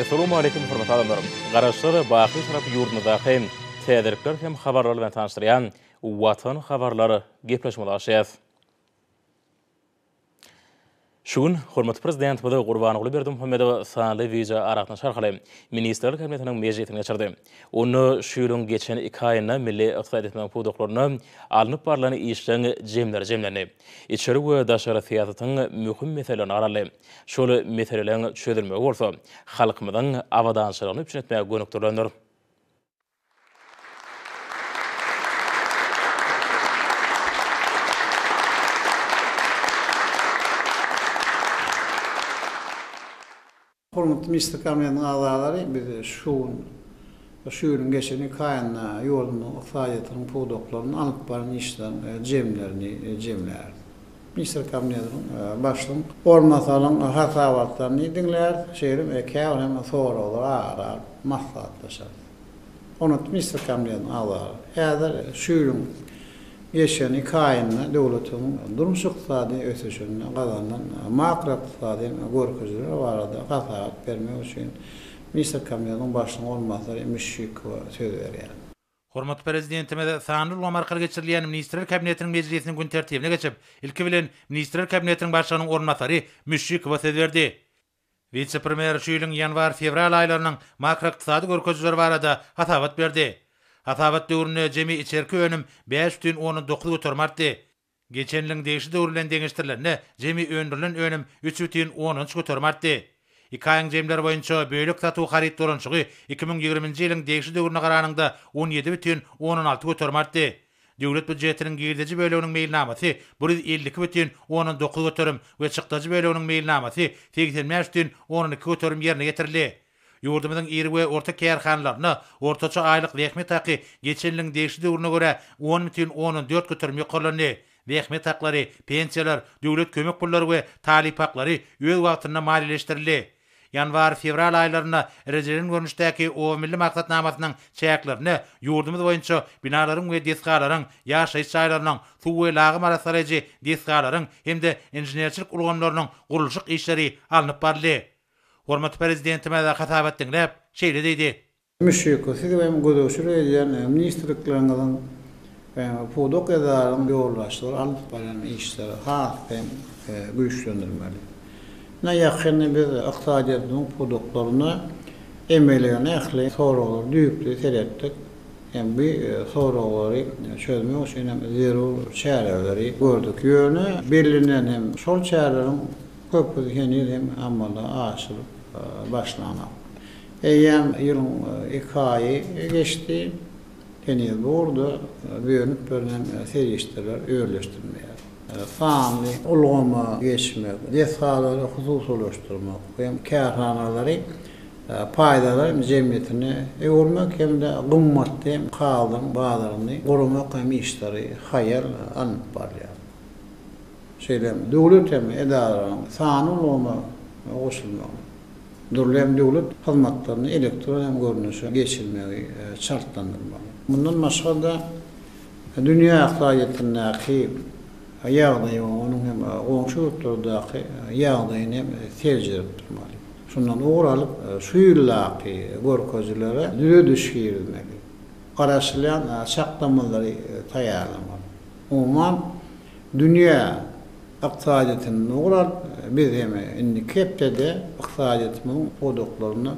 Essalamu aleýkum hormatly adamlar! Garaşsyz, baky şarap ýurdumyzdaky täzelikler hem habarlar bilen tanyşdyrýan Watan habarlar gepleşigimize başlaýarys. Şu gün hormatly Prezidentimiz Gurbanguly Berdimuhamedow sanly wideo aragatnaşyk arkaly Ministrler Kabinetiniň mejlisini geçirdi. Onda şu ýylyň geçen iki aýynda milli ykdysady etmegiň pudaklarynda alnyp barlan işleriň jemleri jemlendi. Içeri we daşary syýasatyň möhüm meselelerini garaldy. Şol meseleleriň çözülmegi bolsa halkymyzyň abadançylygyny üpjün etmäge gönükdirilendir. Hormatly Mejlis Komitetiň agzalary, biz şu gün, şu ýylyň geçen iki aýynda ýurdumyzyň ykdysadyýetiniň pudaklaryny alyp baran işleriň jemlerini jemläris. Mister Kamneliň, başlygyň orunbasarynyň hasabatlaryny diňlärys, şeýle hem käbir hem soraglary ara alyp maslahatlaşarys. Onat Mister Kamneliň agzalary, häzir şu ýylyň geçen iki aýynda döwletimiziň durmuş-ykdysady ösüşinde gazanylan makroykdysady görkezijiler barada hasabat bermek üçin Mister Kamneliň başlygyň orunbasary Müşşikowa söz berýär. Hormatly Prezidentimiz sanly ulgam arkaly geçirilýän Ministrler Kabinetiniň mejlisiniň gün tertibine geçip, ilki bilen, Ministrler Kabinetiniň Başlygynyň orunbasary Müşşikowa söz berdi. Wise-premýer şu ýylyň ýanwar-fewral aýlarynyň makroykdysady görkezijileri barada hasabat berdi. Hasabat döwründe jemi içerki önüm bäş bütin ondan dokuz göterim artdy. Geçen ýylyň degişli döwri bilen deňeşdirilende, jemi öndürilen önüm üç bütin ondan üç göterim artdy. Iki aýyň jemleri boýunça bölek satuw haryt dolanyşygy iki müň ýigriminji ýylyň degişli döwrüne garanyňda on ýedi bütin ondan alty göterim artdy. Döwlet býujetiniň girdeji böleginiň meýilnamasy bir ýüz elli iki bütin ondan dokuz göterim we çykdajy böleginiň meýilnamasy segsen bäş bütin ondan iki göterim ýerine ýetirildi. Ýurdumyzyň iri we orta kärhanalarynda ortaça aýlyk zähmet haky geçen ýylyň degişli döwrüne görä on bütin ondan dört göterim ýokarlandy. Zähmet haklary, pensiýalar, döwlet kömek pullary we talyp haklary öz wagtynda maliýeleşdirildi. Ýanwar-fewral aýlarynda rejelen görnüşdäki Oba milli maksatnamasynyň çäklerinde ýurdumyz boýunça binalaryň we desgalaryň, ýaşaýyş jaýlarynyň, suw we lagym arassalaýjy desgalaryň hem-de inženerçilik ulgamlarynyň gurluşyk işleri alnyp baryldy. Hormatly Prezidentimiz hasabat diňläp, şeýle diýdi. Müşşiko, siziň hem gözegçilik edýän ministrlikleriňiziň we pudak edaraň ýolbaşçylary alyp barýan işleri has hem güýçlendirmeli. Ine, ýakynda biz ykdysadyýetimiziň pudaklarynda emelegen ähli soraglary düýpli seretdik hem bu soraglary çözmek üçin hem zerur çäreleri gördük. Ýöne bellenen hem şol çäreleriň Köpüsi heniz hem amala aşyryp başlanok. Eýýäm ýylyň iki aýy geçdi, heniz bu ugurda bölünip berlen serişdeler özleşdirilmeýär. Sanly ulgama geçmek, desgalary hususylaşdyrmak hem kärhanalary paýdarlar jemgyýetine öwürmek hem-de gymmatly kagyzyň bazaryny guramak hem işleri haýal alnyp barylýar. şeýle hem döwlet hem edaralaryň sanly ulgama goşulmagy, dürli hem döwlet hyzmatlaryny elektron hem görnüşe geçirmegi şartlandyrmaly. Mundan başga-da, dünýä ykdysadyýetindäki ýagdaýy we onuň hem goňşy ýurtlardaky ýagdaýyny hem seljerip durmaly. Şundan ugur alyp, şu ýyldaky görkezilere düzediş girizmeli, garaşylýan çaklamalary taýýarlamaly. Umuman, Dünýä ykdysadyýetinde ugur alyp, biz hem indiki hepdede ykdysadyýetimizin pudaklarynda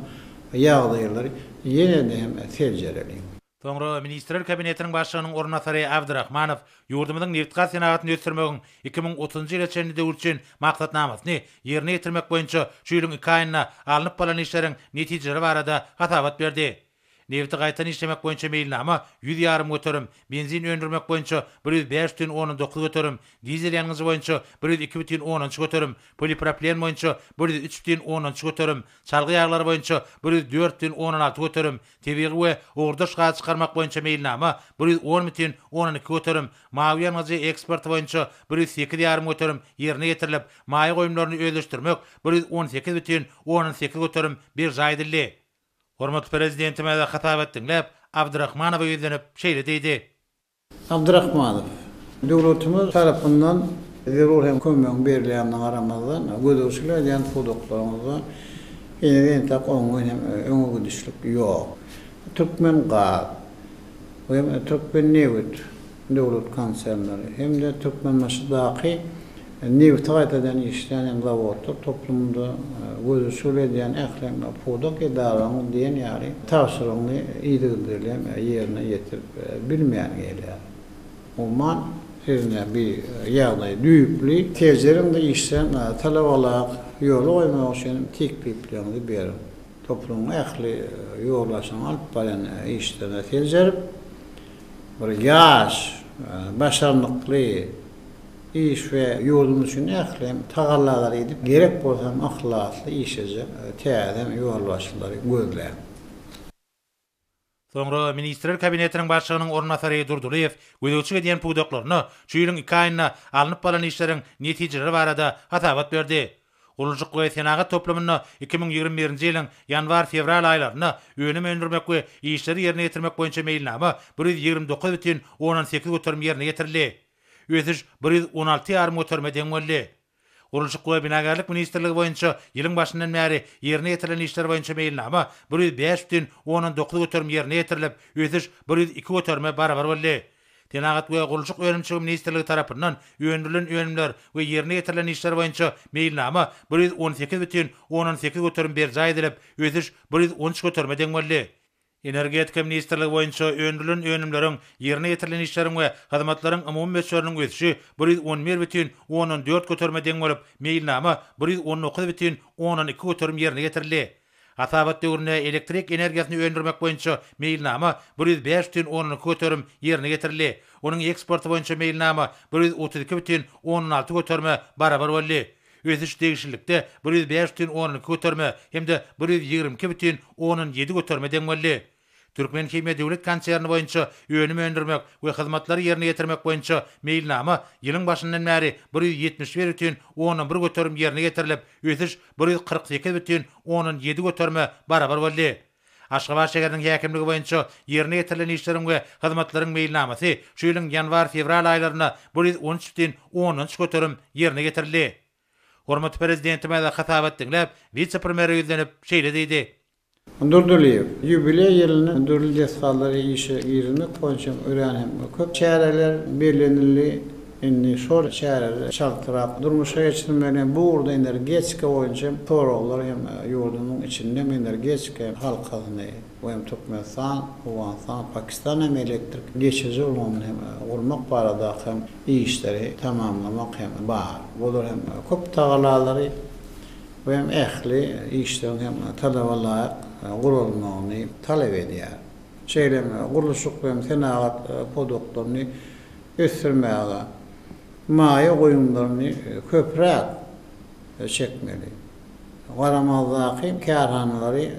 ýagdaýlary ýene-de hem seljereli. Soňra Ministrler Kabinetiniň Başlygynyň orunbasary Abdyrahmanow ýurdumyzyň nebitgaz senagatyny ösdürmegiň iki müň otuzynjy ýyla çenli döwür üçin maksatnamasyny ýerine ýetirmek boýunça şu ýylyň iki aýynda alnyp balan işleriň netijeleri barada hasabat berdi. Nebiti gaýtadan işlemek boýunça meýilnama ýüz ýarym göterim, benzin öndürmek boýunça bir ýüz bäş bütin ondan dokuz göterim, dizel ýangyjy boýunça bir ýüz iki bütin ondan üç göterim, poliproplen boýunça bir ýüz üç bütin ondan üç göterim, çalgy ýaglary boýunça bir ýüz dört bütin ondan alty göterim, tebigy we ugurdaş gazy çykarmak boýunça meýilnama bir ýüz on bütin ondan iki göterim, mawy ýangyjy eksporty boýunça bir ýüz sekiz ýarym göterim ýerine ýetirilip, maýa goýumlaryny özleşdirmek bir ýüz on sekiz bütin ondan sekiz göterim berjaý edildi. Hormatly Prezidentimize hasabat diňläp, Abdyrahmanowa ýüzlenip, şeýle diýdi. Abdyrahmanow, döwletimiz tarapyndan zerur hem kömegiň berilýändigine garamazdan, gözegçilik edýän pudaklaryňyzda henizem entek oňyn hem öňe gidişlik ýok. Türkmengaz we Türkmennebit, döwlet konsernleri hem-de Türkmenbaşydaky nebiti gaýtadan işleýän zawodlar toplumynda gözügçilik edýän ähli pudak edaralaryň diýen ýaly tabşyrygyny yzygiderli ýerine ýetirip bilmeýän gelýär. Umuman, siz ine bu ýagdaýy düýpli tejeriň-de işleň, talabalara ýola goýmak üçin teklipleriňizi beriň. Toplumyň ähli ýolbaşçylarynyň alyp barýan işlerine seljerip, bir ýaş, başarnykly, iş we ýurdumyz üçin ählem tagallalary edip, gerek bolsa hem yhlasly işlejek täze ýolbaşçylary gözläň. Soňra Ministrler Kabinetiniň Başlygynyň orunbasary Durdylyýew gözegçilik edýän pudaklaryna şu ýylyň iki aýynda alnyp balan işleriň netijeleri barada hasabat berdi. Gurluşyk we senagat toplumynda iki müň ýigrimi birinji ýylyň ýanwar-fewral aýlarynda önüm öndürmek we işleri ýerine ýetirmek boýunça meýilnama bir ýüz ýigrimi dokuz bütin ondan sekiz göterim ýerine ýetirildi. Ösüş bir ýüz on alty ýarym göterime deň boldy. Gurluşyk we binagärlik ministrligi boýunça ýylyň başyndan bäri ýerine ýetirilen işler boýunça meýilnama bir ýüz bäş butyn ondan dokuz göterim ýerine ýetirilip, ösüş bir ýüz iki göterime barabar boldy. Senagat we gurluşyk önümçiligi ministrligi tarapyndan öndürilen önümler we ýerine ýetirilen işler boýunça meýilnama bir ýüz on sekiz butyn ondan sekiz göterim berjaý edilip, ösüş bir ýüz on üç göterime deň boldy. Energetika ministrligi boýunça öndürilen önümleriň, ýerine ýetirilen işleriň we hyzmatlaryň umumy möçberiniň ösüşi bir ýüz on bir bütin ondan dört göterime deň bolup, meýilnama bir ýüz on dokuz bütin ondan iki göterim ýerine ýetirildi. Hasabat döwründe elektrik energiýasyny öndürmek boýunça meýilnama bir ýüz bäş bütin ondan iki göterim ýerine ýetirildi. Onuň eksporty boýunça meýilnama bir ýüz otuz iki bütin ondan alty göterime barabar boldy. Ösüş degişlilikde bir ýüz bäş bütin ondan iki göterime hem-de bir ýüz ýigrimi iki bütin ondan ýedi göterime deň boldy. Türkmenhimiýa döwlet konserni boýunça önüm öndürmek we hyzmatlary ýerine ýetirmek boýunça meýilnama ýylyň başyndan bäri bir ýüz ýetmiş bir bütin ondan bir göterim ýerine ýetirilip, ösüş bir ýüz kyrk sekiz bütin ondan ýedi göterime barabar boldy. Aşgabat şäheriniň häkimligi boýunça ýerine ýetirilen işleriň we hyzmatlaryň meýilnamasy şu ýylyň ýanwar-fewral aýlarynda bir ýüz on üç bütin ondan üç göterim ýerine ýetirildi. Hormatly Prezidentimiz hasabat diňläp, wise-premýere ýüzlenip, şeýle diýdi. Durdylyýew, Ýubileý ýylyny dürli desgalary işe girizmek boýunça örän hem köp çäreler bellenildi. Indi şol çäreleri çaltrak durmuşa geçirmeli. Bu ugurda energetika boýunça hem soraglar hem ýurdumyň içinde hem energetika hem halkasyny we hem Türkmenistan, Owganystan, Pakistan hem elektrik geçiriji ulgamyny hem gurmak baradaky hem işleri tamamlamak hem bar. Bular hem köp tagalalary we hem ähli işleriň hem talaba laýyk guralmagyny talap edýär. Şeýle hem gurluşyk we hem senagat pudaklaryny ösdürmäge maýa goýumlaryny köpräk çekmeli, garamazdaky kärhanalary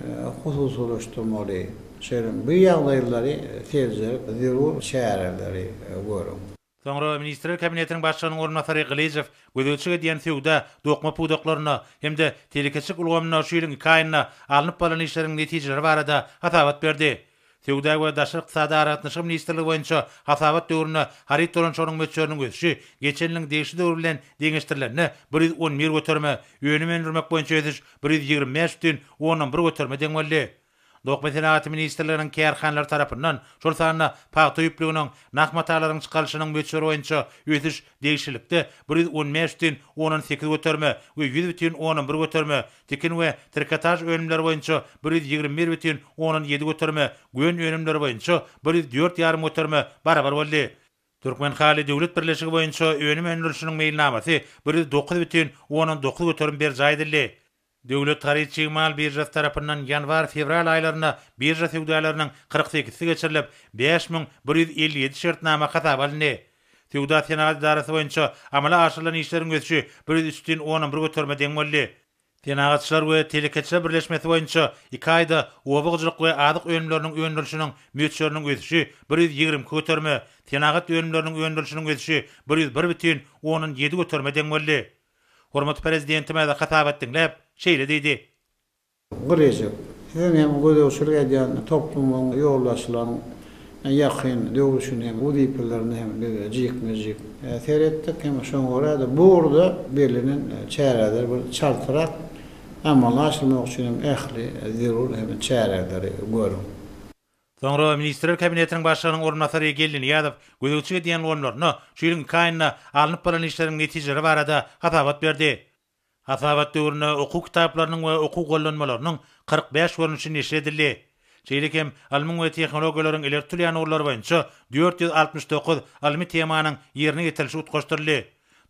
hususylaşdyrmaly, şeýle-m bu ýagdaýlary seljerip zerur çäreleri görüň. Soňra Ministrler Kabinetiniň Başlygynyň orunbasary Gylyjow gözegçilik edýän söwda, dokma pudaklarynda hem-de telekeçilik ulgamynda şu ýylyň iki aýynda alnyp barlan işleriň netijeleri barada hasabat berdi. Söwda we daşary ykdysady aragatnaşyk ministrligi boýunça hasabat döwründe haryt dolanyşygynyň möçberiniň ösüşi geçen ýylyň degişli döwri bilen deňeşdirilende bir ýüz on bir göterime, önüm öndürmek boýunça ösüş bir ýüz ýigrimi bäş bütin ondan bir göterime deň boldy. Dokma senagaty ministrliginiň kärhanalary tarapyndan, şol sanda pagta ýüplüginiň, nah matalaryň çykarylyşynyň möçberi boýunça ösüş Degişlilikde bir ýüz on bäş düýn onan sekiz göterime we ýüz bütin onan bir göterime, tikin we trikotaž önümleri boýunça bir ýüz ýigrimi bir bütin onan ýedi göterime, gön önümleri boýunça bir ýüz dört ýarym göterime barabar boldy. Türkmenhaly döwlet birleşigi boýunça önüm öndürişiniň meýilnamasy bir ýüz dokuz bütin onan dokuz göterim berjaý edildi. Döwlet haryt-çig mal biržasy tarapyndan ýanwar-fewral aýlarynda birža söwdalarynyn kyrk sekizisi geçirilip, bäş müň bir ýüz elli ýedi şertnama hasaba alyndy. Söwda-senagat edarasy boýunça amala aşyrylan işleriň ösüşi bir ýüz üç tn onnan bir göterime deň boldy. Senagatçylar we telekeçiler birleşmesi boýunça iki aýda oba hojalyk we azyk önümleriniň öndürilişiniň möçberiniň ösüşi bir ýüz ýigrimi iki göterime, senagat önümleriniň öndürilişiniň ösüşi bir ýüz bir bütin ondan ýedi göterime deň boldy. Hormatly Prezidentimiz hasabat diňläp, şeýle diýdi. Gyr eşek, siziň hem gözegçilik edýän toplumyň, ýoldaşlaryň ýakyn döwrüşini hem, wezipelerini hem biz jikme-jik seretdik. Hem şoňa görä-de, bu ugurda bellenen çäreler bir çaltrak amala aşyrmak üçin hem ähli zerur hem çäreleri görüň. Soňra Ministrler Kabinetiniň Başlygynyň orunbasary Geldi Nyýazow gözegçilik edýän ulgamlaryna şu ýylyň iki aýynda alnyp barlan işleriň netijeleri barada hasabat berdi. Hasabat döwründe okuw kitaplarynyň we okuw gollanmalarynyň kyrk bäş görnüşi neşir edildi. Şeýle hem ylmyň we tehnologiýalaryň ileri tutulýan ugurlary boýunça dört ýüz altmyş dokuz ylmy temanyň ýerine ýetirilişi utgaşdyryldy.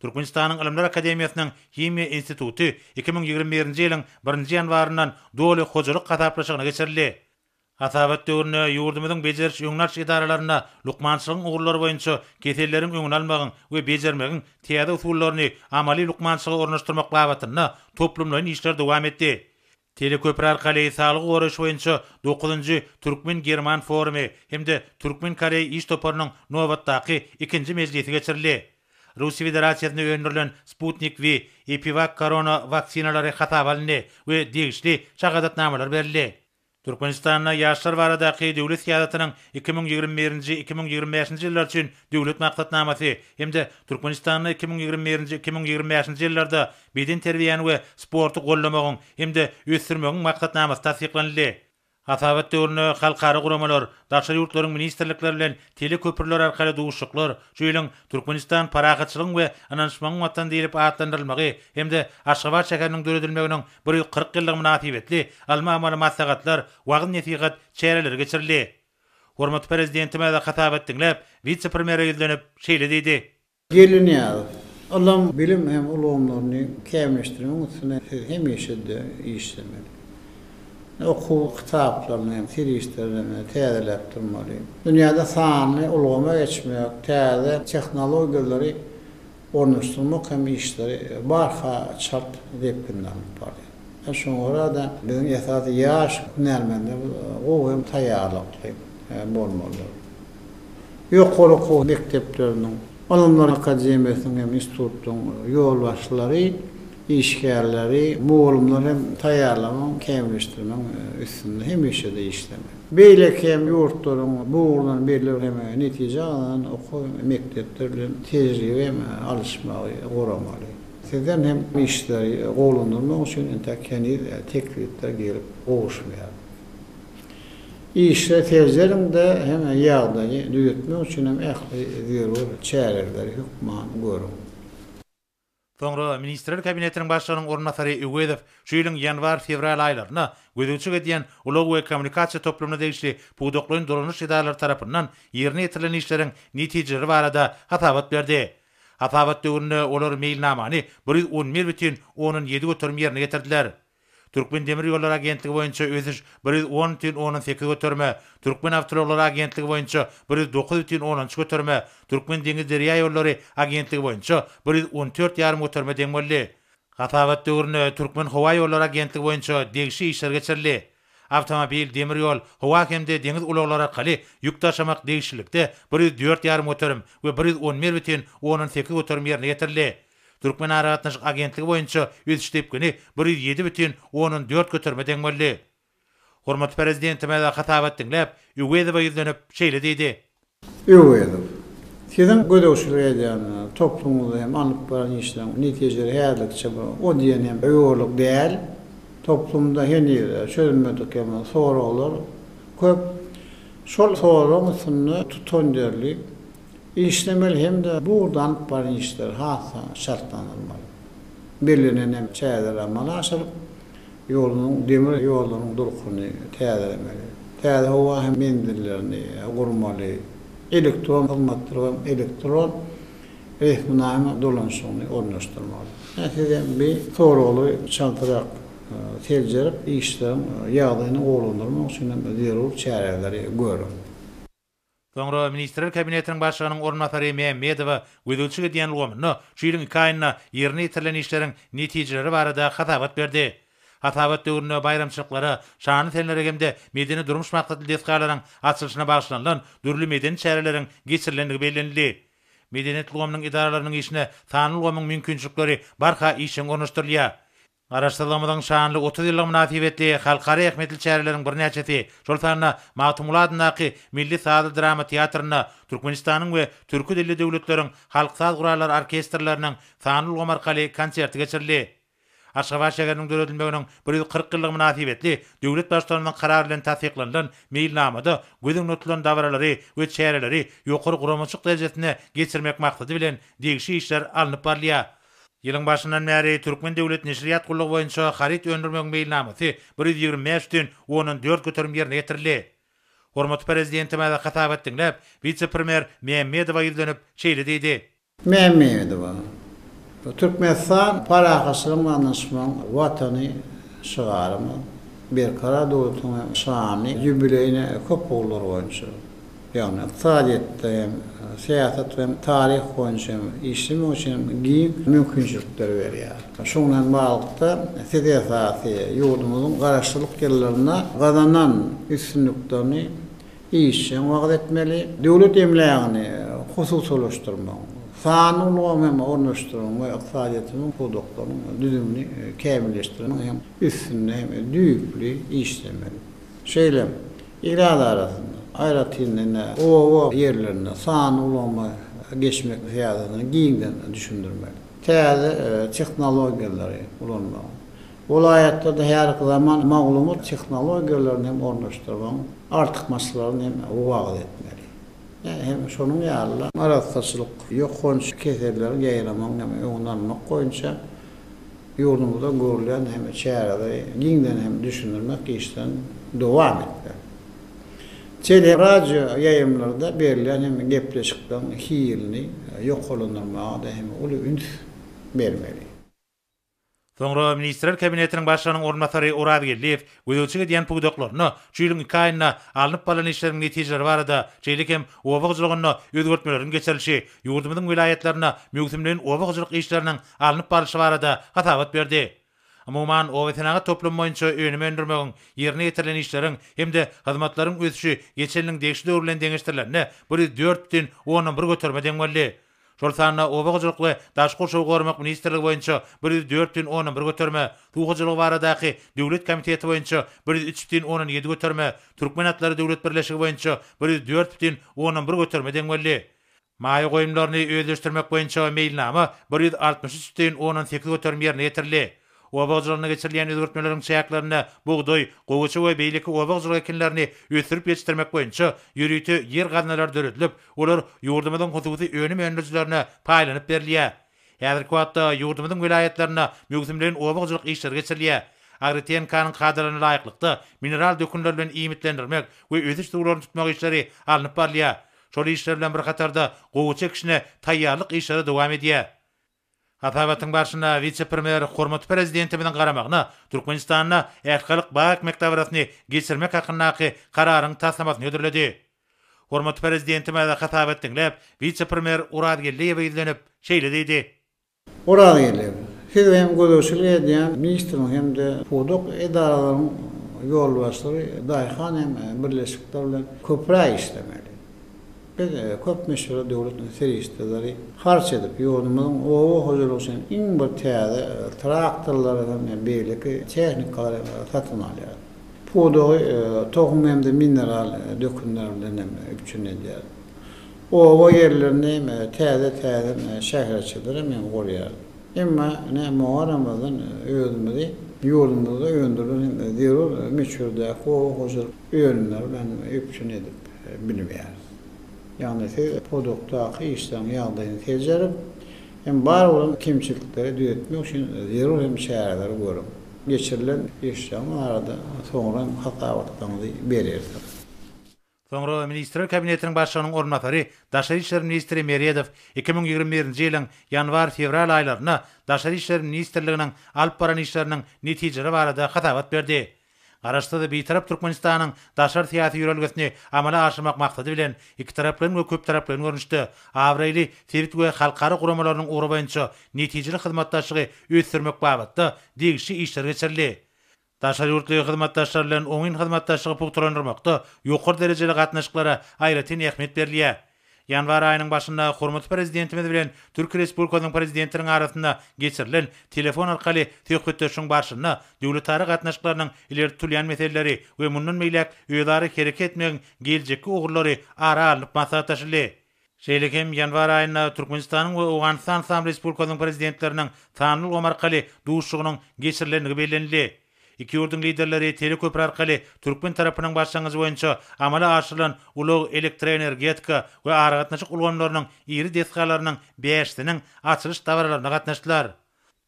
Türkmenistanyň Ylymlar akademiýasynyň Himiýa instituty iki müň ýigrimi birinji ýylyň birinji ýanwaryndan doly hojalyk hasaplaşygyna geçirildi. Hasabat döwründe ýurdumyzyň bejeriş-öňünalyş edaralarynda lukmançylygyň ugurlary boýunça keselleriň öňüni almagyň we bejermegiň täze usullaryny amaly lukmançylyga ornaşdyrmak babatynda toplumlaýyn işler dowam etdi. Teleköpri arkaly saglygy goraýyş boýunça dokuzynjy türkmen-german forumy hem-de türkmen-koreý iş toparynyň nobatdaky ikinji mejlisi geçirildi. Russiýa Federasiýasynda öndürilen Sputnik V, Epiwak korona waksinalary hasaba alyndy we degişli şahadatnamalar berildi. Türkmenistanda ýaşlar baradaky döwlet syýasatynyň iki müň ýigrimi birinji, iki müň ýigrimi bäşinji ýyllar üçin Döwlet maksatnamasy hem-de Türkmenistanda iki müň ýigrimi birinji, iki müň ýigrimi bäşinji ýyllarda bedenterbiýäni we sporty goldamagyň hem-de ösdürmegiň maksatnamasy tassyklanyldy. Hasabat döwründe halkara guramalar, daşary ýurtlaryň ministrlikleri bilen teleköprüler arkaly duşuşyklar, şu ýylyň Türkmenistan parahatçylygyň we ynanyşmagyň watany diýlip atlandyrylmagy hem-de Aşgabat şäheriniň döredilmeginiň bir ýüz kyrk ýyllygy mynasybetli alma-amaly maslahatlar, wagyz-nesihat çäreleri geçirildi. Hormatly Prezidentimiz hasabat diňläp, wise-premýere ýüzlenip, şeýle diýdi. Geldinyýazow, ylym, bilim hem ulgamlaryny kämilleşdirmegiň üstünde siz hemişe-de işlemeli. Okuw kitaplaryny hem serişdelerini täzeläp durmaly. Dünýäde sanly ulgama geçmek, täze tehnologiýalary ornaşdyrmak hem işleri barha çalt depginde alnyp barylýar. Şoňa görä-de, biziň esasy ýaş hünärmenlerimiz gowy hem taýýarlykly bolmalydyr. Ýokary okuw mekdepleriniň, Ylymlar akademiýasynyň hem institutlaryň ýolbaşçylary, Işgärleri, mugallymlary hem taýýarlamagyň, kämilleşdirmegiň üstünde hemişe-de işlemeli. Beýleki hem ýurtlaryň bu ugurdan belli bir hem netije gazanan okuw mekdepleri bilen tejribe hem alyşmagy guramaly. Sizden hem işleri gowulandyrmak üçin entek heniz teklipler gelip gowuşmaýar. Işleri seljeriň-de hem ýagdaýy düzetmek üçin hem ähli zerur çäreleri hökman görüň. Soňra Ministrler Kabinetiniň Başlygynyň orunbasary Öwezow şu ýylyň ýanwar-fewral aýlarynda gözegçilik edýän ulag we kommunikasiýa toplumyna degişli pudaklaýyn dolanyş edaralary tarapyndan ýerine ýetirilen işleriň netijeleri barada hasabat berdi. Hasabat döwründe olar meýilnamany bir ýüz on bir bütin ondan ýedi göterim ýerine getirdiler. Türkmendemirýollary agentligi boýunça ösüş bir ýüz on bütin ondan sekiz göterime, Türkmenawtoullaglary agentligi boýunça bir ýüz dokuz bütin ondan üç göterime, Türkmendeňizderýaýollary agentligi boýunça bir ýüz on dört ýarym göterime deň boldy. Hasabat döwründe Türkmenhowaýollary agentligi boýunça degişli işler geçirildi. Awtomobil, demir ýol, howa hem-de deňiz ulaglary arkaly ýük daşamak degişlilikde bir ýüz dört ýarym göterim we bir ýüz on bir bütin ondan sekiz göterim ýerine ýetirildi. Türkmenaragatnaşyk agentligi boýunça ösüş depgini bir ýüz ýedi bütin ondan dört göterime deň boldy. Hormatly Prezidentimize hasabat diňläp, Öwezowa ýüzlenip, şeýle diýdi. Öwezow, Siziň gözegçilik edýän toplumyňyzda hem alnyp baran işleriň netijeleri häzirlikçe bir o diýen hem ýokarlyk däl. Toplumda heniz çözülmedik hem soraglar köp. Şol soragyň üstünde tutanýerli Işlemeli hem-de bu ugurda alnyp barlan işler has-da çaltlandyrylmaly. Bellenen ähli çäreler amala aşyryp, ýurdumyzyň demir ýollarynyň durkuny täzelemeli. Täze howa hem menzillerini gurmaly, elektron hyzmatlar we elektron resminama dolanyşygyny ornaşdyrmaly. Ine, siz hem bu soraglary çaltrak seljerip, işleriň ýagdaýyny gowulandyrmak üçin hem zerur çäreleri görüň. Soňra Ministrler Kabinetiniň Başlygynyň orunbasary Mämmedowa gözegçilik edýän ulgamynda şu ýylyň iki aýynda ýerine ýetirilen işleriň netijeleri barada hasabat berdi. Hasabat döwründe baýramçylyklara, şanly senlere hem-de medeni-durmuş maksatly desgalaryň açylyşyna bagyşlanylan dürli medeni çäreleriň geçirilendigi bellenildi. Medeniýet ulgamynyň edaralarynyň işine sanly ulgamyň mümkinçilikleri barha işjeň ornaşdyrylýar. Garaşsyzlygymyzyň şanly otuz ýyllygy mynasybetli halkara ähmiýetli çäreleriň birnäçesi, şol sanda Magtymguly adyndaky Milli sazly-drama teatrynda Türkmenistanyň we türki dilli döwletleriň halk saz gurallary orkestrleriniň sanly ulgam arkaly konserti geçirildi. Aşgabat şäheriniň döredilmeginiň bir ýüz kyrk ýyllygy mynasybetli döwlet Baştutanymyzyň karary bilen tassyklanylan meýilnamada göz öňüne tutulan dabaralary we çäreleri ýokary guramaçylyk derejesinde geçirmek maksady bilen degişli işler alnyp barylýar. Ýylyň başyndan bäri Türkmen döwlet neşirýat gullugy boýunça haryt öndürmegiň meýilnamasy bir ýüz ýigrimi bäş ütün ondan dört göterim ýerine ýetirildi. Hormatly Prezidentimiz hasabat diňläp, wise-premýer Mämmedowa ýüzlenip, şeýle diýdi. Mämmedowa, Türkmenistan parahatçylygyň we ynanyşmagyň Watany şygarymyz Berkarar döwletiň şanly ýubileýine köp ugurlar boýunça Ýagny ykdysadyýetde hem, syýasat we hem taryh boýunça hem işlemek üçin giň mümkinçilikleri berýär. Şuň bilen baglylykda, siz esasy ýurdumyzyň garaşsyzlyk ýyllarynda gazanan üstünliklerini işjeň wagyz etmeli, döwlet emlägini hususylaşdyrmagyň, sanly ulgamy hem ornaşdyrmagyň we ykdysadyýetimiziň pudaklarynyň düzümini kämilleşdirmegiň hem üstünde hem düýpli işlemeli. Şeýle hem Ilat arasynda, aýratyn-da, oba ýerlerinde sanly ulgama geçmek syýasatyny giňden düşündirmek, täze tehnologiýalary ulanmagyň, welaýatlarda häzirki zaman maglumat tehnologiýalaryny hem ornaşdyrmagyň artykmaçlyklaryny hem wagyz etmeli. Hem şonuň ýaly-da, arassaçylyk, ýokanç keselleriň ýaýramagynyň hem öňüni almak boýunça, Ýurdumyzda görülýän hemme çäreleri giňden hem düşündirmek işlerini dowam etmeli. Tele, radio ýaýymlarda berilýän hemme gepleşikleriň hilini ýokarlandyrmaga-da hem uly üns bermeli. Soňra Ministrler Kabinetiniň Başlygynyň orunbasary Oraz Geldiýew Gözegçilik edýän pudaklaryna şu ýylyň iki aýynda alnyp barlan işleriň netijeleri barada, şeýle hem oba hojalygynda özgertmeleriň geçirilişi, ýurdumyzyň welaýatlarynda möwsümleýin oba hojalyk işleriniň alnyp barlyşy barada hasabat berdi. Umuman, obasenagat toplumy boýunça önüm öndürmegiň, ýerine ýetirilen işleriň hem-de hyzmatlaryň ösüşi geçen ýylyň degişli döwri bilen deňeşdirilende bir ýüz dört bütin ondan bir göterime deň boldy. şol sanda Oba hojalyk we daşky gurşawy goramak ministrligi boýunça bir ýüz dört bütin ondan bir göterme, Suw hojalygy baradaky döwlet komiteti boýunça bir ýüz üç bütin ondan ýedi göterme, Türkmen atlary döwlet birleşigi boýunça bir ýüz dört bütin ondan bir göterme deň boldy. Maýa goýumlaryny özleşdirmek boýunça meýilnama bir ýüz altmyş üç bütin ondan sekiz göterim ýerine ýetirildi. Oba hojalygyna geçirilýän özgertmeleriň çäklerinde bugdaý, gowaça we beýleki oba hojalyk ekinlerini ösdürip ýetişdirmek boýunça ýörite ýer gaznalary döredilip, olar ýurdumyzyň hususy önüm öndürijilerine paýlanyp berilýär. Häzirki wagtda ýurdumyzyň welaýatlarynda möwsümleýin oba hojalyk işleri geçirilýär. AgriTNK-nyň kadalaryna laýyklykda, mineral dökünler bilen iýmitlendirmek we ösüş suwlaryny tutmak işleri alnyp barylýar. Şol işler bilen bir hatarda gowaça ekişine taýýarlyk işleri dowam edýär. Hasabatyň barşynda wise-premýer hormatly Prezidentimiziň garamagyna Türkmenistanda Ählhalyk bag-ekmek dabarasyny geçirmek hakyndaky Kararyň taslamasyny hödürledi. Hormatly Prezidentimiz hasabat diňläp, wise-premýer Orazgeldiýewe ýüzlenip, şeýle diýdi. Orazgeldiýew, Siz hem gözegçilik edýän ministriň hem-de pudak edaralaryň ýolbaşçylary daýhan hem birleşikler bilen köpräk işlemeli. Biz köp möçberde döwlet serişdeleri harç edip, ýurdumyzyň oba hojalygy üçin iň bir täze traktorlary hem beýleki tehnikalary satyn alýarys. Pudagy tohum hem-de mineral dökünler bilen hem üpjün edýäris. Oba ýerlerini hem täze-täzeden şäherçeler hem gurýarys. Emma ine Muharramyzdan özümizi ýurdumyzda öndürilen hem zerur möçberdäki oba hojalyk. önümleri bilen üpjün edip bilmeýäris. Ýagny siz pudakdaky işleriň ýagdaýyny seljerip, hem bar bolan kemçilikleri düzetmek üçin zerur hem çäreleri görüp, geçirilen işleriň barada soňra hem hasabatlaryňyzy berersiňiz. Soňra Ministrler Kabinetiniň Başlygynyň orunbasary, daşary işler ministri Meredow iki müň ýigrimi birinji ýylyň ýanwar-fewral aýlarynda Daşary işler ministrliginiň alyp baran işleriniň netijeleri barada hasabat berdi. Garaşsyz we Bitarap Türkmenistanyň daşary syýasy ýörelgesini amala aşyrmak maksady bilen, ikitaraplaýyn we köptaraplaýyn görnüşde abraýly sebit we halkara guramalarynyň ugry boýunça netijeli hyzmatdaşlygy ösdürmek babatda degişli işler geçirildi. Daşary ýurtly hyzmatdaşlar bilen oňyn hyzmatdaşlygy pugtalandyrmakda ýokary derejeli gatnaşyklara aýratyn ähmiýet berilýär. Ýanwar aýynyň başynda hormatly Prezidentimiz bilen Türkiýe Respublikasynyň Prezidentiniň arasynda geçirilen telefon arkaly söhbetdeşligiň barşynda döwletara gatnaşyklarynyň ileri tutulýan meseleleri we mundan beýläk özara hereket etmegiň geljekki ugurlary ara alnyp maslahatlaşyldy. Şeýle hem ýanwar aýynda Türkmenistanyň we Owganystan Yslam Respublikasynyň Prezidentleriniň sanly ulgam arkaly duşuşygynyň geçirilendigi bellenildi. Iki ýurduň liderleri teleköpri arkaly türkmen tarapynyň başlangyjy boýunça amala aşyrylan ulag, elektroenergetika we aragatnaşyk ulgamlarynyň iri desgalarynyň bäşisiniň açylyş dabaralaryna gatnaşdylar.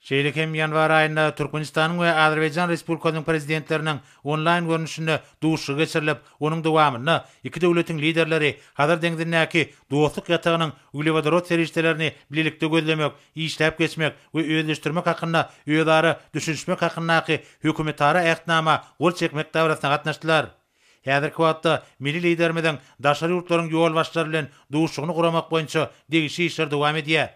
Şeýle hem ýanwar aýynda Türkmenistanyň we Azerbaýjan Respublikasynyň Prezidentleriniň onlaýn görnüşinde duşuşygy geçirilip, onuň dowamynda iki döwletiň liderleri Hazar deňzindäki Dostluk ýatagynyň uglewodorod serişdelerini bilelikde gözlemek işläp geçmek we özleşdirmek hakynda özara düşünişmek hakyndaky Hökümetara Ähtnama gol çekmek dabarasyna gatnaşdylar. Häzirki wagtda milli Liderimiziň daşary ýurtlaryň ýolbaşçylary bilen duşuşygyny guramak boýunça degişli işler dowam edýär.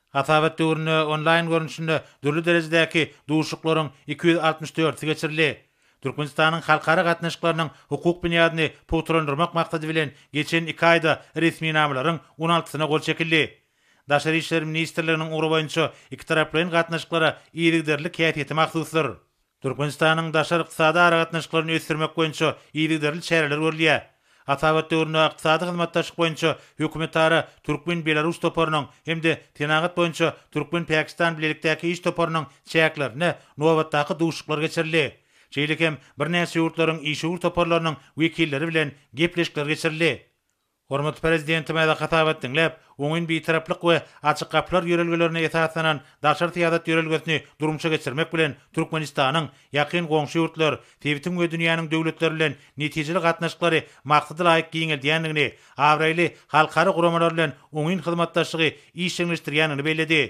Hasabat döwründe onlaýn görnüşinde dürli derejedäki duşuşyklaryň iki ýüz altmyş dördüsi geçirildi. Türkmenistanyň halkara gatnaşyklarynyň hukuk binýadyny pugtalandyrmak maksady bilen geçen iki aýda resminamalaryň on altysyna gol çekildi. Daşary işler ministrliginiň ugry boýunça ikitaraplaýyn gatnaşyklara yzygiderlilik häsiýeti mahsusdyr. Türkmenistanyň daşary ykdysady aragatnaşyklaryny ösdürmek boýunça yzygiderli çäreler görülýär. Hasabat döwründe Ykdysady hyzmatdaşlyk boýunça hökümetara türkmen-belarus toparynyň hem-de Senagat boýunça türkmen-pakistan bilelikdäki iş toparynyň çäklerinde nobatdaky duşuşyklar geçirildi. Şeýle hem birnäçe ýurtlaryň işewür toparlarynyň wekilleri bilen gepleşikler geçirildi. Hormatly Prezidentimize hasabat diňläp, oňyn Bitaraplyk we Açyk gapylar ýörelgelerine esaslanan daşary syýasat ýörelgesini durmuşa geçirmek bilen, Türkmenistanyň ýakyn goňşy ýurtlar, sebitiň we dünýäniň döwletleri bilen netijeli gatnaşyklary maksadalaýyk giňeldýändigini, abraýly halkara guramalar bilen oňyn hyzmatdaşlygy işjeňleşdirýändigini belledi.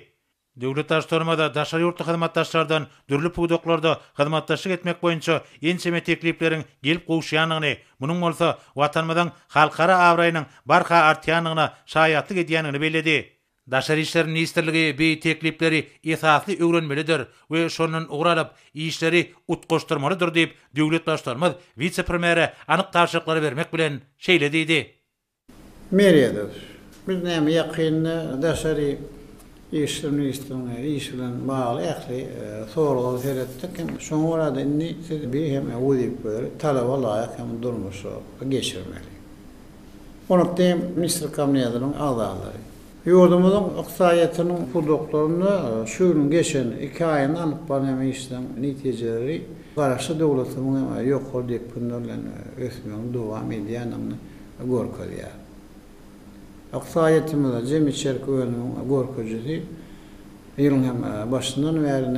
Döwlet Baştutanymyza daşary ýurtly hyzmatdaşlardan dürli pudaklarda hyzmatdaşlyk etmek boýunça ençeme teklipleriň gelip gowuşýandygyny, munuň bolsa Watanymyzyň halkara abraýynyň barha artýandygyna şaýatlyk edýändigini belledi. Daşary işler ministrligi bi teklipleri esasly öwrenmelidir we şondan ugur alyp, işleri utgaşdyrmalydyr diýip, döwlet Baştutanymyz wise-premýere anyk tabşyryklary bermek bilen, şeýle diýdi. Meredow, Biz näme ýakynda daşary işler ministriniň işi bilen bagly ähli soraglara seretdik hem şoňa görä-de indi siz bir hem wezipeleri talaba laýyk hem durmuşa geçirmeli. Onatde hem ministrler kabinetiniň agzalary. Ýurdumyzyň ykdysadyýetiniň pudaklarynda şu ýylyň geçen iki aýynda alnyp barylýan işleriň netijeleri garaşly döwletimiziň hem ýokary depginde bilen ösmegini dowam edýändigini görkezýär. Ykdysadyýetimize jemi içerki önümiň görkezijisi ýylyň hem başyndan bäri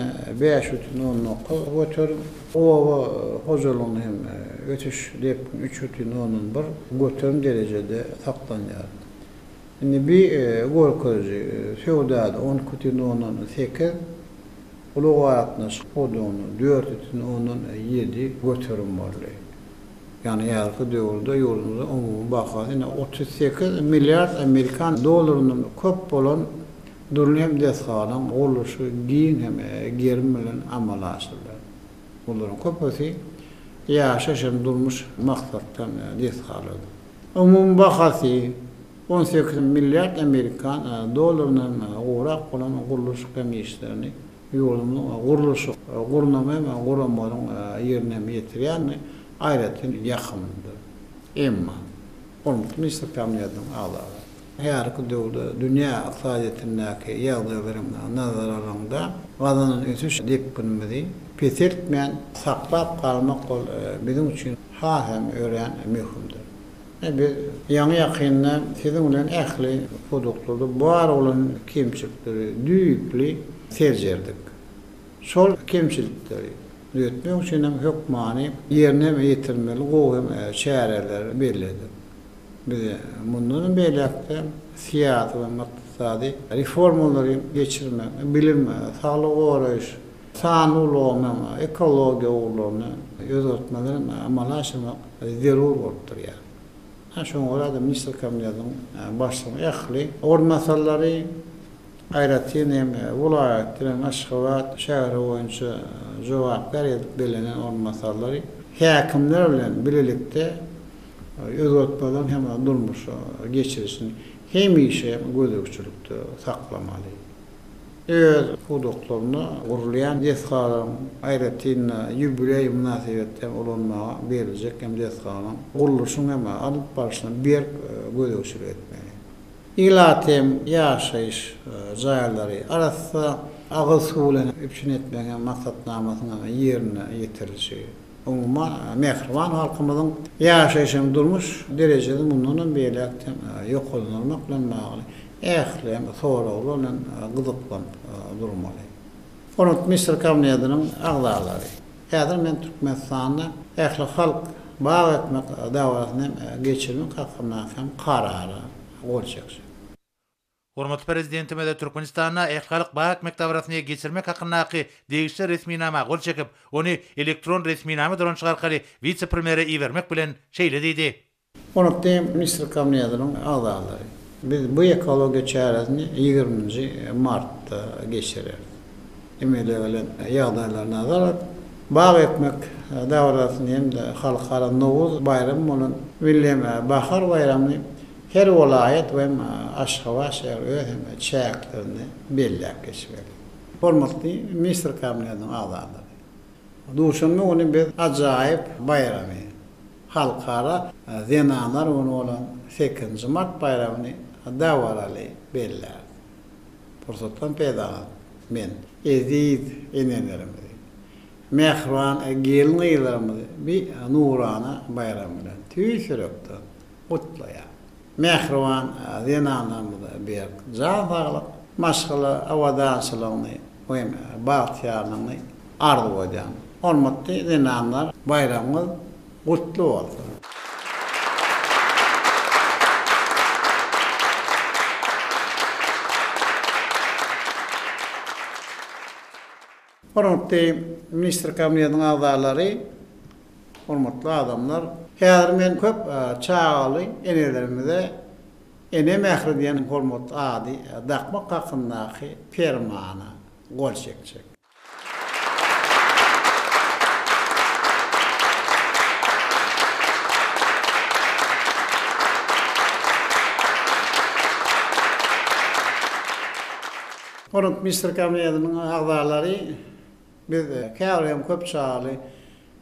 bäş bütin on dokuz göterim, oba hojalygyny hem ösüş depgini üç bütin ondan bir göterim derejede saklanýar. Indi bi görkeziji söwdada on iki bütin ondan sekiz, ulag-aragatnaşyk pudagynda dört bütin ondan ýedi göterim boldy. Ýagny häzirki döwürde ýurdumyzyň umumy bahasy ine otuz sekiz milliard amerikan dollaryndan köp bolan dürli hem desgalaryň gurluşy giň hem gerim bilen amala aşyrylýar. Olaryň köpüsi ýaşaýyş hem durmuş maksatdan desgalardyr. Umumy bahasy on sekiz milliard amerikan dollaryndan gowrak bolan gurluşyk hem işlerini Ýurdumyzyň gurluşyk, gurnama hem guramagyň ýerine hem ýetirýändigi aýratyn ýakymlydyr. Emma, hormatly Ministr Kabinetiniň agzalary, häzirki döwürde dünýä ykdysadyýetindäki ýagdaýlary nazara alanyňda, gazanan ösüş depginimizi peseltmän saklap galmak ol biziň üçin has hem örän möhümdir. Biz ýaňy-ýakynda siziň bilen ähli pudaklaryda bar bolan kemçilikleri düýpli seljerdik. Şol kemçilikleri düzetmek üçin hem hökmany ýerine ýetirmeli gowy hem çäreleri belledik. Biz mundanam beýläk-de syýasy hem ykdysady reformalary geçirmek, bilim, saglygy goraýyş, Sanly ulgamy, ekologiýa ugurlaryny özgertmeleri amala aşyrmak zerur bolup durýar. Şoňa görä de Ministrler Kabinetiniň Başlygynyň ähli orunbasarlary, aýratyn hem welaýat bilen Aşgabat şäheri boýunça jogapkär edip bellenen orunbasarlary häkimler bilen bilelikde özgertmeleriň hem durmuşa geçirilişini hemişe gözegçilikde saklamaly. öz pudaklarynda gurulýan desgalaryň, aýratyn-da, ýubileý mynasybetli hem ulanmaga beriljek hem desgalaryň gurluşyny hem alyp barşyna berk gözegçilik etmeli. Ilat hem ýaşaýyş jaýlary arassa, agyz suw bilen üpjün etmegiň hem maksatnamasynyň ýerine ýetirilişi. Umuman, mähriban halkymyzyň ýaşaýyş hem durmuş derejesini mundan hem beýläk-de ýokarlandyrmak bilen bagly ähliň soraglar bilen gyzyklanyp durmaly. Hormatly Ministr Kabinetiniň agzalary, häzir men Türkmenistanda ählihalk bag ekmek dabarasyny hem geçirmek hakyndaky hem Karara gol çekjek. Hormatly Prezidentimiz Türkmenistanda Ählihalk bank mekdabrasyny geçirmek hakyndaky degişli resminama gol çekip, ony elektron resminama dolanyşygy arkaly wise-premýere ibermek bilen, şeýle diýdi. Hormatly Ministrler Kabinetiniň agzalary, biz bu ekologiýa çäresini ýigriminji martda geçireris. Emele gelen ýagdaýlar nazar alyp, bag ekmek dabarasyny hem-de halkara Nowruz baýramy bolan Milli bahar baýramyny Her welaýat we Aşgabat şäheri öz hem çäklerini belläp geçmeli. Hormatly Ministr Kabinetiniň agzalary! Duşenbe güni biz ajaýyp baýramy, Halkara zenanlar güni bolan sekizinji mart baýramyny dabaraly belläris. Pursatdan peýdalanyp, men eziz enelerimizi, mähriban gelin-gyzlarymyzy bi nurana baýram bilen tüýs ýürekden gutlaýar. Mähriban zenanlarymyza berk jan saglyk, maşgala abadançylygyny we hem bagtyýarlygyny arzuw edýän. Hormatly zenanlar baýramyňyz gutly bolsun! Hormatly Ministr Kabinetiniň agzalary, hormatly adamlar! Häzir men köp çagaly enelerimize Ene mähri diýen hormatly ady dakmak hakyndaky Permana gol çekjek. Rotmistr komitetynyň agzalary biz käbir hem köp çagaly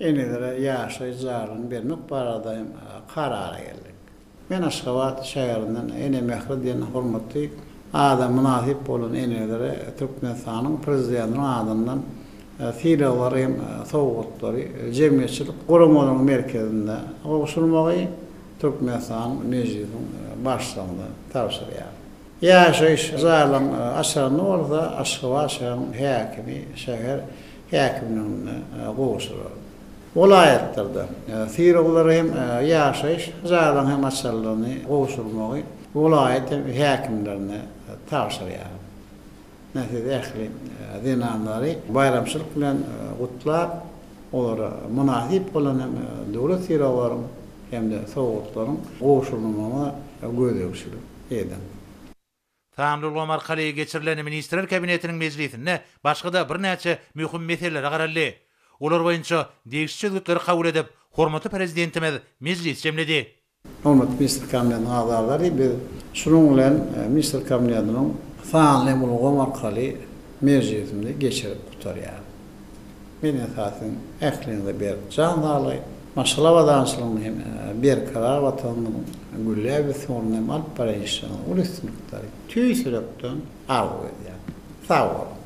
enelere ýaşaýyş jaýlaryny bermek barada hem karara geldik. Men Aşgabat şäherinden Ene mähri diýen hormatly ada mynasyp bolan enelere Türkmenistanyň Prezidentiniň adyndan sylaglary hem sowgatlary jemgyýetçilik guramalaryň merkezinde gowşurmagy Türkmenistanyň Mejlisiň Başlygyna tabşyrýaryn. Ýaşaýyş zalyň açanyny bolsa Aşgabat şäheriň häkimi şäher häkimliginde gowşurar. Welaýatlarda syryglary hem, ýaşaýyş zalyň hem açarlygyny gowşurmagy welaýat häkimlerine tabşyrýar. Men sizi ähli zenanlary baýramçylyk bilen gutlap, olara mynasyp bolan hem döwlet sylaglary hem-de sowgatlaryň gowşurylmagyna gözegçilik edin. Sanly ulgam arkaly geçirilen Ministrler Kabinetiniň mejlisinde başga-da birnäçe möhüm meselelere garaldy. Olar boýunça degişli çözgütleri kabul edip, hormatly Prezidentimiz mejlis jemledi. Hormatly Ministrler Kabinetiniň agzalary, biz şunuň bilen Ministrler Kabinetiniň sanly ulgam arkaly mejlisimizi geçirip gutarýarys. Men esasan ähliňize berk jan saglygy, maşgala abadançylygyny hem berkarar Watanymyzyň gülläp ösen ugrunda hem alyp barýan işleriňize uly üstünlikleri tüýs ýürekden arzuw edýärin. Sag boluň!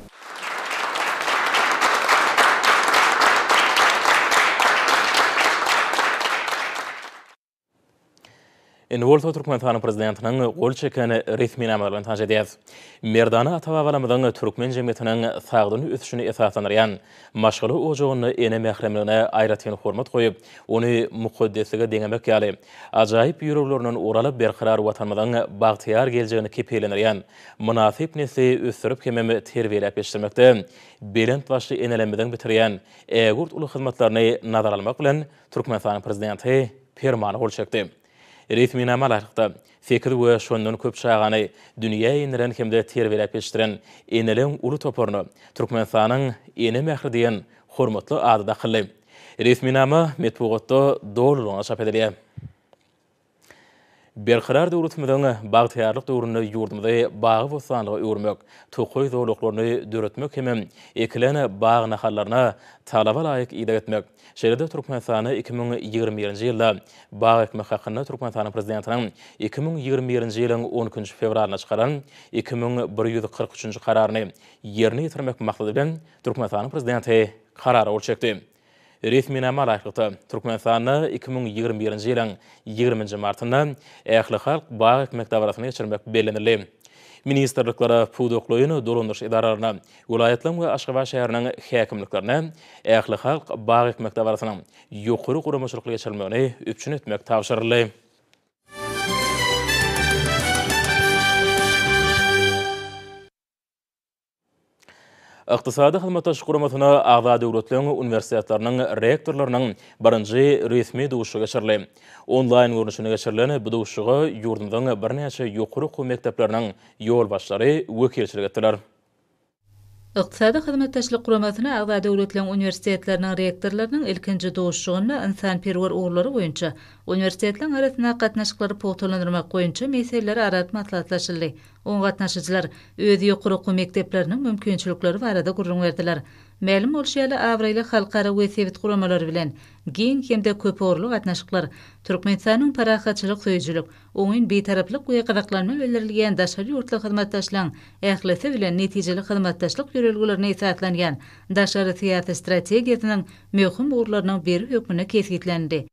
Indi bolsa Türkmenistanyň prezidentiniň gol çeken resminamalar bilen tanyş edýäs. Merdana ata-babalarymyzyň türkmen jemgyýetiniň sagdyn ösüşini esaslandyrýan maşgala ojagynda ene mähremligine aýratyn hormat goýup, ony mukaddeslige deňemek ýaly, ajaýyp ýüreglerinden ugur alyp, berkarar Watanymyzyň bagtyýar geljegini kepillendirýän mynasyp nesli ösdürip hemem terbiýeläp ýetişdirmekde belent başly enelerimiziň bitirýän ägirt uly hyzmatlaryny nazara almak bilen, Türkmenistanyň Prezidenti Permana gol çekdi. Resminama laýyklykda, sekiz we şondan köp çagany dünýä inderen hem-de terbiýeläp ýetişdiren eneleriň uly toparyna Türkmenistanyň Ene mähri diýen hormatly ady dakyldy. Resminama metbugatda dolulygyna çap edilýär. Berkarar döwletimiziň bagtyýarlyk döwründe ýurdumyzy bagy-bossanlyga öwürmek, tokaý zolaklaryny döretmek hemem ekilen bag nahallaryna talaba laýyk ideg etmek, şeýle-de Türkmenistany iki müň ýigrimi birinji ýylda bag ekmek hakynda Türkmenistanyň Prezidentiniň iki müň ýigrimi birinji ýylyň on ikinji fewralynda çykaran iki müň bir ýüz kyrk üçünji Kararyny ýerine ýetirmek maksady bilen Türkmenistanyň Prezidenti Karara gol çekdi. Resminama laýyklykda, Türkmenistanda iki müň ýigrimi birinji ýylyň ýigriminji martynda ählihalk bag ekmek dabarasyny geçirmek bellenildi. Ministrliklere, pudaklaýyn dolandyryş edaralaryna, welaýatlaryň we Aşgabat şäheriniň häkimliklerine ählihalk bag ekmek dabarasynyň ýokary guramaçylykly geçirilmegini üpjün etmek tabşyryldy. Ykdysady Hyzmatdaşlyk Guramasyna agza döwletleriň uniwersitetleriniň rektorlarynyň birinji resmi duşuşygy geçirildi. Onlaýn görnüşinde geçirilen bu duşuşyga ýurdumyzyň birnäçe ýokary okuw mekdepleriniň ýolbaşçylary wekilçilik etdiler. Ykdysady Hyzmatdaşlyk Guramasyna agza döwletleriň uniwersitetleriniň rektorlarynyň ilkinji duşuşygynda ynsanperwer ugurlary boýunça uniwersitetleriň arasyndaky gatnaşyklary pugtalandyrmak boýunça meseleleri arat maslahatlaşyldy. Oňa gatnaşyjylar öz ýokary okuw mekdepleriniň mümkinçilikleri barada gürrüň berdiler. Mälim bolşy ýaly, abraýly halkara we sebit guramalary bilen giň hem-de köpugurly gatnaşyklar, Türkmenistanyň parahatçylyk söýüjilik, oňyn bitaraplyk we gyzyklanma bildirilýän daşary ýurtly hyzmatdaşlaryň ählisi bilen netijeli hyzmatdaşlyk ýörelgelerine esaslanýan daşary syýasy strategiýasynyň möhüm ugurlarynyň biri hökmünde kesgitlenildi.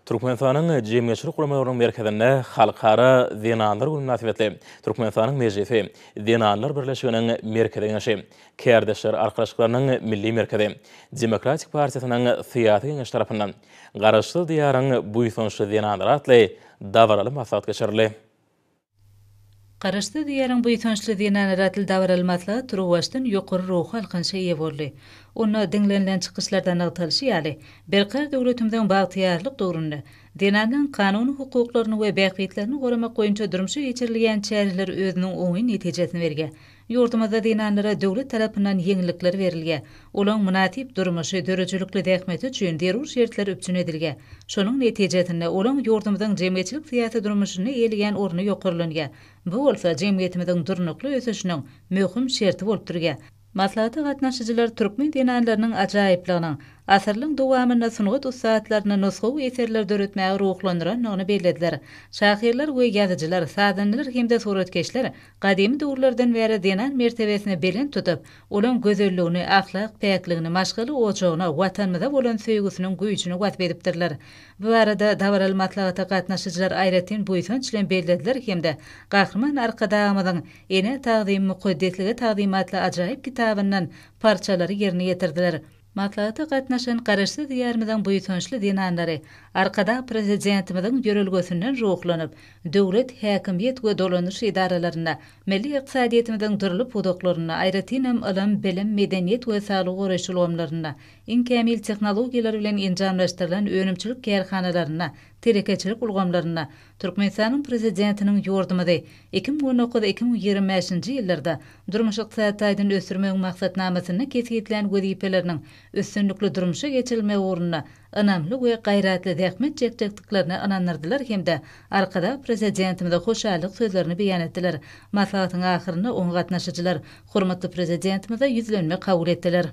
Türkmenistanyň jemgyýetçilik guramalarynyň merkezinde Halkara zenanlar güni mynasybetli Türkmenistanyň Mejlisi, Zenanlar birleşiginiň Merkezi Geňeşi, Kärdeşler arkalaşyklarynyň Milli merkezi, Demokratik partiýasynyň Syýasy geňeşi tarapyndan Garaşsyz Diýaryň buýsançly zenanlary atly dabaraly maslahat geçirildi. Garaşsyz Diýaryň buýsançly zenany Ratel Dawaral maslahat turuwbaşdan ýokary ruhy alkanyşa eýe boldy. Onda diňlenilen çykyşlarda nygtalyşy ýaly, berkarar döwletimiziň bagtyýarlyk döwründe zenanlaryň kanuny hukuklaryny we bähbitlerini goramak boýunça durmuşa geçirilýän çäreler özüniň oňyn netijesini berýär. Ýurdumyzda zenanlara döwlet tarapyndan ýeňillikler berilýär. Olaň mynasyp durmuşy, döredijilikli zähmeti üçin zerur şertler üpjün edilýär. Şonuň netijesinde, olaň ýurdumyzyň jemgyýetçilik-syýasy durmuşynda eýeleýän orny ýokarlanýar. Bu bolsa jemgyýetimiziň durnukly ösüşiniň möhüm şerti bolup durýar. Maslahata gatnaşyjylar türkmen zenanlarynyň ajaýyplygynyň, asyrlaryň dowamynda sungat ussatlaryny nusgawy eserler döretmäge ruhlandyrandygyny bellediler. Şahyrlar we ýazyjylar, sazandalar hem-de suratkeşler Gadymy döwürlerden bäri zenan mertebesini belent tutup, olaň gözelligini, ahlak päkligini, maşgala ojagyna, Watanymyza bolan söýgüsiniň güýjüni wasp edipdirler. Bu barada dabaraly maslahata gatnaşyjylar aýratyn buýsanç bilen bellediler hem-de Gahryman Arkadagymyzyň Enä tagzym, mukaddeslige tagzym atly ajaýyp kitabyndan parçalary ýerine ýetirdiler. Maslahata gatnaşan Garaşsyz Diýarymyzyň buýsançly zenanlary Arkadag Prezidentimiziň ýörelgesinden ruhlanyp, döwlet, häkimiýet we dolanyş edaralarynda, milli ykdysadyýetimiziň dürli pudaklarynda, aýratynam ylym, bilim, medeniýet we saglygy goraýyş ulgamlarynda, iň kämil tehnologiýalar bilen enjamlaşdyrylan önümçilik kärhanalarynda, telekeçilik ulgamlarynda Türkmenistanyň Prezidentiniň ýurdumyzy iki müň on dokuz-iki müň ýigrimi bäşinji ýyllarda Durmuş-ykdysady taýdan ösdürmegiň maksatnamasynda kesgitlän wezipeleriniň üstünlikli durmuşa geçirilmegi ugrunda ynamly we gaýratly zähmet çekjekdiklerine ynandyrdylar hem-de Arkadag Prezidentimize hoşallyk sözlerini beýan etdiler. Maslahatyň ahyrynda oňa gatnaşyjylar hormatly Prezidentimize ýüzlenme kabul etdiler.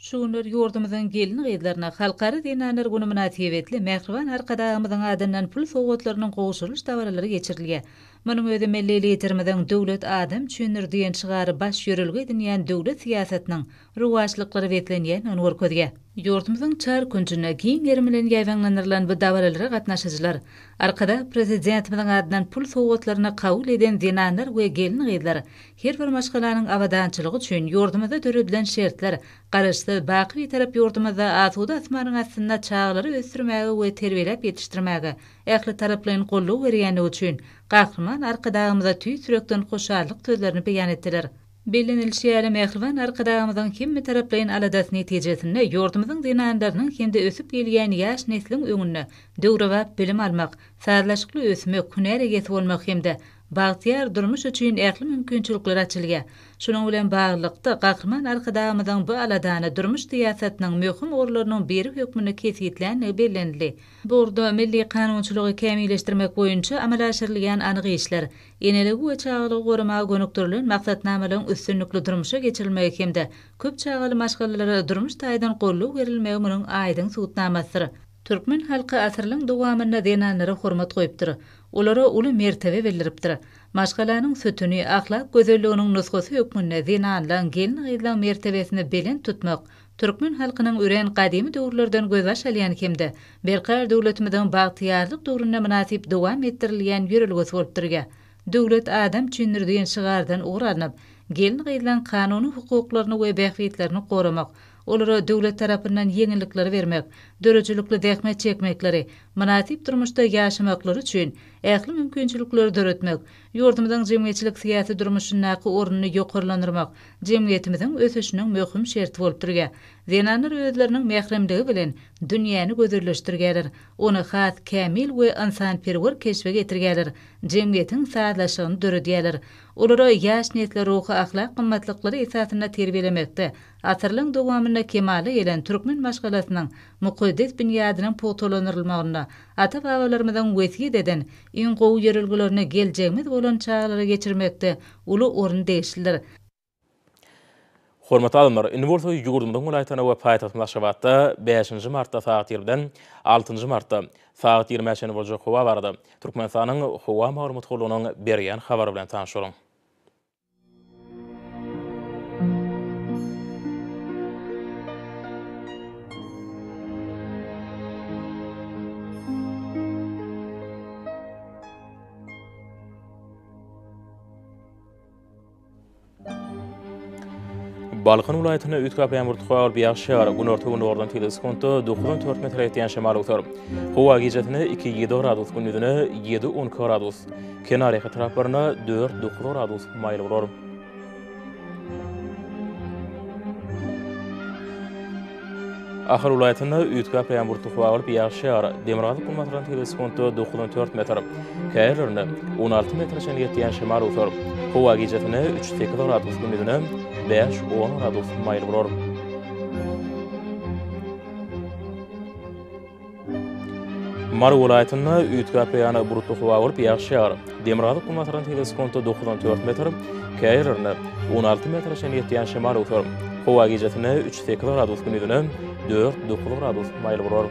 Şu günler ýurdumyzyň gelin-gyzlaryna Halkara zenanlar güni mynasybetli mähriban Arkadagymyzyň adyndan pul sowgatlarynyň gowşurylyş dabaralary geçirilýär. Munuň özi milli Liderimiziň Döwlet adam üçindir! diýen şygary baş ýörelge edinýän döwlet syýasatynyň rowaçlyklara beslenýändigini görkezýär. Ýurdumyzyň çar künjünde giň gerim bilen ýaýbaňlandyrylan bu dabaralara gatnaşyjylar Arkadag Prezidentimiziň adyndan pul sowgatlaryny kabul eden zenanlar we gelin-gyzlar Her bir maşgalanyň abadançylygy üçin ýurdumyzda döredilen şertler Garaşsyz, baky Bitarap ýurdumyzda asuda asmanyň astynda çagalary ösdürmäge we terbiýeläp ýetişdirmäge ählitaraplaýyn goldaw berýändigi üçin Gahryman Arkadagymyza tüýs ýürekden hoşallyk sözlerini beýan etdiler. Bellenilişi ýaly, mähriban Arkadagymyzyň hemmetaraplaýyn aladasy netijesinde ýurdumyzyň zenanlarynyň hem-de ösüp gelýän ýaş nesliň öňünde döwrebap bilim almak, sazlaşykly ösmek, hünär eýesi bolmak hem-de bagtyýar durmuş üçin ähli mümkinçilikler açylýar. Şunuň bilen baglylykda, Gahryman Arkadagymyzyň bu aladany durmuş syýasatynyň möhüm ugurlarynyň biri hökmünde kesgitländigi bellenildi. Bu ugurda milli kanunçylygy kämilleşdirmek boýunça amala aşyrylýan anyk işler, eneligi we çagalygy goramaga gönükdirilen maksatnamalaryň üstünlikli durmuşa geçirilmegi hem-de köp çagaly maşgalalara durmuş taýdan goldaw berilmegi munuň aýdyň subutnamasydyr. Türkmen halky asyrlaň dowamynda zenanlara hormat goýupdyr, olara uly mertebe bildiripdir. Maşgalanyň sütüni, ahlak gözelliginiň nusgasy hökmünde zenanlaň, gelin-gyzlaň mertebesini belent tutmak türkmen halkynyň örän gadymy döwürlerden gözbaş alýan hem-de berkarar döwletimiziň bagtyýarlyk döwründe mynasyp dowam etdirilýän ýörelgesi bolup durýar. Döwlet adam üçindir diýen şygardan ugur alnyp, gelin-gyzlaň kanuny hukuklaryny we bähbitlerini goramak, olara döwlet tarapyndan ýeňillikleri bermek, döredijilikli zähmet çekmekleri, mynasyp durmuşda ýaşamaklary üçin ähli mümkinçilikleri döretmek, ýurdumyzyň jemgyýetçilik-syýasy durmuşyndaky ornuny ýokarlandyrmak jemgyýetimiziň ösüşiniň möhüm şerti bolup durýar. Zenanlar özleriniň mähremligi bilen dünýäni gözelleşdirýärler, ony has kämil we ynsanperwer keşbe getirýärler, jemgyýetiň sazlaşygyny döredýärler. Olary ýaş nesli ruhy-ahlak gymmatlyklary esasynda terbiýelemekde Asyrlaryň dowamynda kemala gelen türkmen maşgalasynyň mukaddes binýadynyň pugtalandyrylmagynda ata-babalarymyzyň wesýet eden iň gowy ýörelgelerini geljegimiz bolan çagalara geçirmekde uly orun degişlidir. Hormatly alymlar, indi bolsa ýurdumyzyň welaýatlarynda we paýtagtymyz Aşgabatda bäşinji martda sagat ýirmiden altynjy martda sagat ýigrimä çenli boljak howa barada Türkmenistanyň Howa maglumat gullugynyň berýän habary bilen tanyşalyň. Balkan welaýatynda üýtgäp ýagyr, tutup ýagyş ýagar, günorta-gündogardan tebigy sekuntda dokuz-on dört metre ýetýän şemal öser. Howa gijesi-ne iki-ýedi gradus, gündizine ýedi-on iki gradus. Kenar ýaka taraplarynda dört dokuz gradus maýyl bolar. Ahal welaýatynda üýtgäp ýaňbur tuhy agylyp ýagyş ýagar. Demirgazyk günbatardan tebigy sekuntda dokuz on dört metr, käbir ýerlerinde on alty metre çenli ýetýän şemal öwser. Howa gijasine üç sekiz gradus gündizine bäş on gradus maýyl bolar. Mary welaýatynda üýtgäp ýaňa bulutly howa bolup, ýagyş ýagar. Demirgazyk günbatardan tebigy sekunta dokuz on dört metr, käýer ýerlerinde on alty metre çenli ýetýän şemal öwser. Howa gijesine üç sekiz gradus, gündizine dört dokuz gradus maýyl bolar.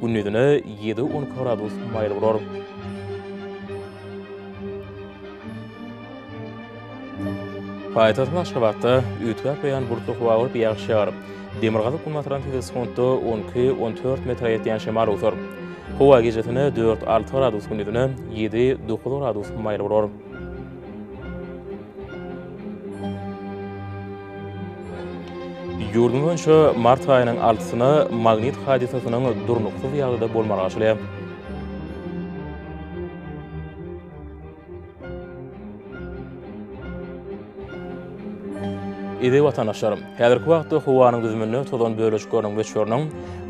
Gündizine ýedi-on gradus maýyl bolar. Paýtagtymyz Aşgabatda üýtgäp-beýan bulutly howa bolup, ýagyş ýagar. Demirgazyk-günbatardan tizgi sekuntda on iki, on dört metre ýetýän şemal öwser. Howa gijesine dört-alty gradus, gündizine ýedi-dokuz gradus maýyl bolar. Ýurdumyz boýunça mart aýynyň altysyna magnit hadysasynyň durnuksyz ýagdaýda bolmagy açylýar. Eziz watandaşlarym! Häzirki wagtda howanyň düzüminde tozan bölejikleriniň möçberiniň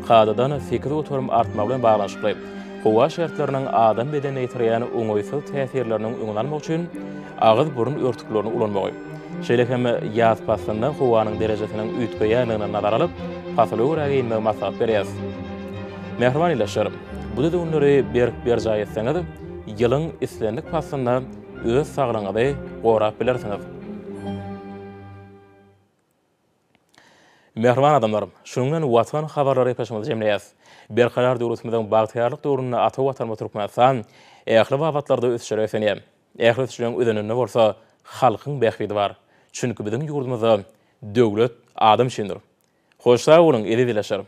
kadadan sekiz göterim artmagy bilen baglanyşykly, Howa şertleriniň adam bedenine ýetirýän oňaýsyz täsirleriniň öňüni almak üçin agyz-burun örtüklerini ulanmagy, şeýle hem ýaz paslynda howanyň derejesiniň üýtgeýändigini nazara alyp, pasyla görä geýinmegi maslahat berýäris. Mähriban ildeşler! Bu düzgünleri berk berjaý etseňiz, ýylyň islendik paslynda öz saglygyňyzy gorap bilersiňiz. Mähriban adamlarym! Şunuň bilen Watan habarlary epoçamyzy jemleýäs. Berkarar döwletimiziň bagtyýarlyk döwründe ata Watanymyz Türkmenistan ähli babatlarda ösüşlere ösenýär. Ähli ösüşleriň özeninde bolsa halkyň bähbidi bar. Çünki biziň ýurdumyzda Döwlet adam üçindir. Hoş sag boluň, eziz ildeşlerim!